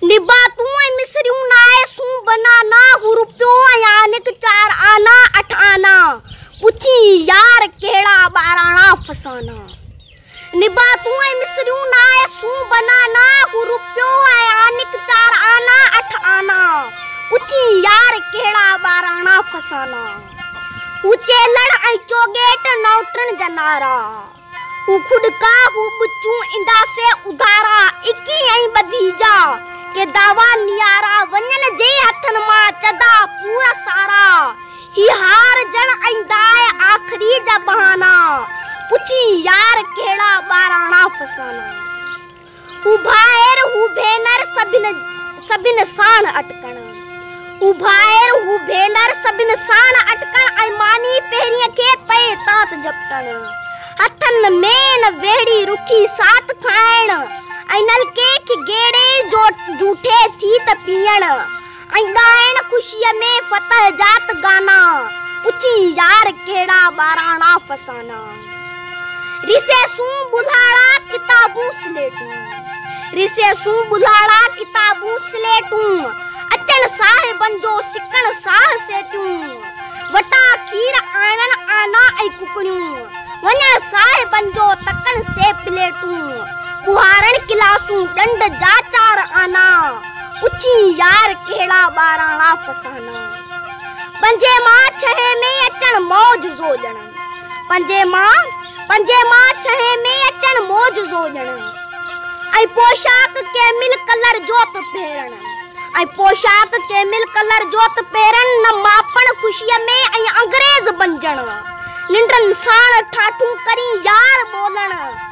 نباتون ۽ مصريون نائي سون بنا نا هو روپيو ۽ آنڪ چار آنا اٺ آنا پڇين يار ڪهڙا ٻاراڻا فسانا نباتون ۽ مصريون نائي سون بنا نا هو روپيو ۽ آنڪ چار آنا اٺ آنا پڇين يار ڪهڙا ٻاراڻا فسانا هو چيلڙ ۽ چوگيٽ نوٽن جنارا هو خودڪا هو ٻچون اندا سي اڌارا اڪي ۽ ٻڌي جا ڪي دعويٰ نيارا وڃن جي هٿن مان چدا پور سارا هي هار جڻ ۽ داء آخري جا بهانا پڇين يار ڪهڙا ٻاراڻا فسانا. او ڀائر هو ڀينر سڀن سڀن ساڻ اٽڪڻ او ڀائر هو ڀينر سڀن ساڻ اٽڪڻ ۽ ماني پهرين کي تئي تات جپٽڻ هٿن مين ويڙهي رکي سات کائڻ ۽ نلڪي کي گيڙي جو جوٺي ٿي ته پيئڻ ۽ ڳائڻ خوشيء ۾ فتح جات گانا، پڇين يار ڪهڙا ٻاراڻا فسانا، رسي سون ٻڌاڙا ڪتابون سليٽون، رسي سون ٻڌاڙا ڪتابون سليٽون، اچڻ صاحبن جو سڪڻ ساهه سيتيون، وٽا کير آڻڻ آنا ۽ ڪڪڙيون، وڃڻ صاحبن جو تڪن سي پليٽون، ٻوهارڻ ڪلاسون ڏنڊ جا چار آنا، اچي يار ڪهڙا ٻاراڻا فسانا پنجي مان ڇهي ۾ اچڻ موج زو ڄڻن پنجي مان پنجي مان ڇهي ۾ اچڻ موج زو ڄڻن ۽ پوشاڪ ڪيمل ڪلر جو ته پهرڻ ۽ پوشاڪ ڪيمل ڪلر جو ته پهرڻ نه ماپڻ خوشي ۾ ۽ انگريز بنجڻ ننڊن ساڻ ٺاٺون ڪرين يار ٻولڻ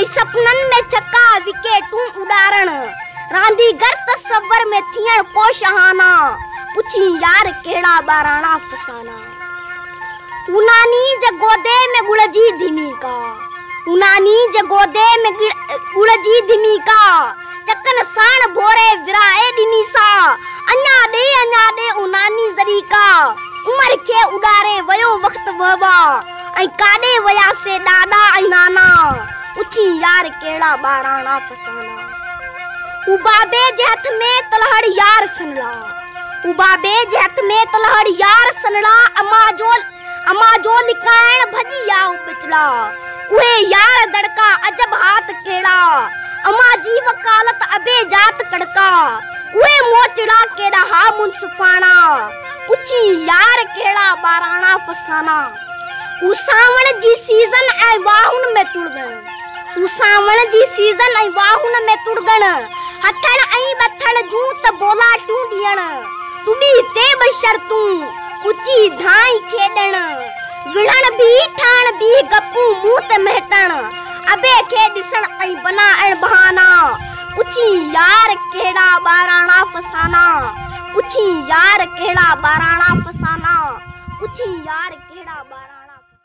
۽ سپنن ۾ چڪا وڪيٽون اڏارڻ رانديگر تصور ۾ ٿيڻ ڪو شاهانه پڇين يار ڪهڙا ٻاراڻا افسانا اوناني جي گودي ۾ ڳڙ جي ڌمي ڪا اوناني جي گودي ۾ ڳڙ جي ڌمي ڪا چڪن ساڻ ڀوري ورائي ڏني سا اڃا ڏي اڃا ڏي اوناني ذري ڪا عمر کي اڏاري ويو وقت وهوا ۽ ڪاڏي ويا سي ڏاڏا ۽ نانا پڇي يار ڪهڙا ٻاراڻا فسانا هو بابي جي هٿ ۾ تلهڙ يار سنڙا هو بابي جي هٿ ۾ تلهڙ يار سنڙا اما جو اما جو لکائڻ ڀڄي يا هو بچڙا اهي يار دڙڪا عجب هات ڪهڙا اما جي وڪالت ابي جات ڪڙڪا اهي موچڙا ڪيڏا ها منصفاڻا پڇي يار ڪهڙا ٻاراڻا فسانا هو سانوڻ جي سيزن ۽ واهن ۾ تڙڳڻ هو سانوڻ جي سيزن ۽ واهن ۾ تڙڳڻ هٿڻ ۽ ٻٿڻ جون ته بولاٽون ڏيڻ ٽٻي تي به شرطون اچي ڌائي کيڏڻ وڙهڻ به ٺهڻ به گپون منهن تي مهٽڻ ابي کي ڏسڻ ۽ بنائڻ بهانا پڇي يار ڪهڙا ٻاراڻا فسانا پڇين يار ڪهڙا ٻاراڻا فسانا پڇين يار ڪهڙا ٻاراڻا فسانا.